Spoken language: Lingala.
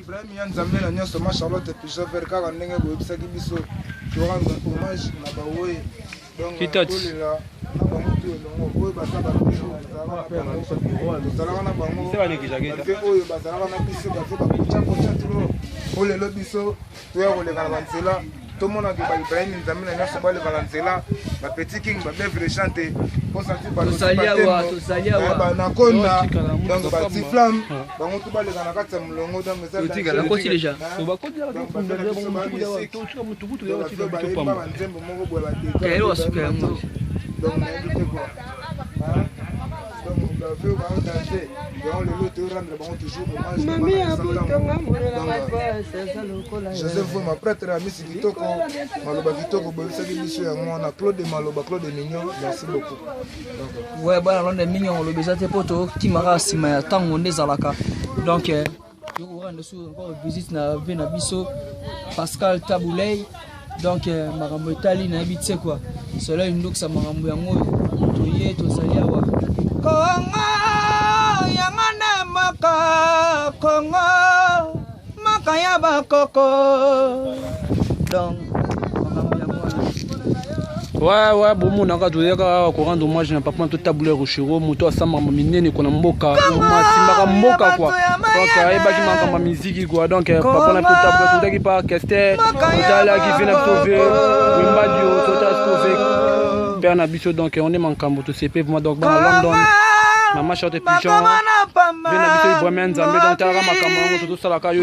Ibrahim ya Nzambe na nyonso ma Charlotte Pichover kaka ndenge boyebisaki biso torendre hommage na baoye donc tolela na bango tu elongo oyo baza bato tozalaka na bango mpe oyo bazalaka na biso bato bakotya kotya tulo olelo biso toya koleka na banzela tomonaki ba ibrahim nzambe na nyonso baleka na nzela ba petit king ba bevre chante banakonda donc batiflam bango to baleka na kati ya molongo donc ezanzembo moko boye bateaasuka yango mami ya botonga molela mabasi aza lokola joseph ma prêtre ya misi kitoko maloba kitoko boyebisaki biso ya mwana claude maloba claude mignon merci beaucoup we bana londre mignon olobi eza te mpo tokimaka nsima ya ntango nde ezalaka donc euh, tokoranda sur encore visite na vie na biso pascal tabuley donc euh, makambo etali nayebi tse kua soleil ndokisa makambo yango oyo toye tozali awa kongo yango nde mboka kongo mboka ya bakoko donc makambo yango wana waya bomonaka toyaka awa korando mwage na papa to table ya rochero moto asambaka minene kona mboka masimbaka mboka kwa donc ayebaki makambo ya miziki kwa donc papa na to table totaki pa kester totalaki vina tove wembadio totalaki tove père na biso donc on est makambo tosepe vraiment donc bana london mama short pigeon vina biso ibrahima nzambe donc talaka makambo yango tozosalaka yo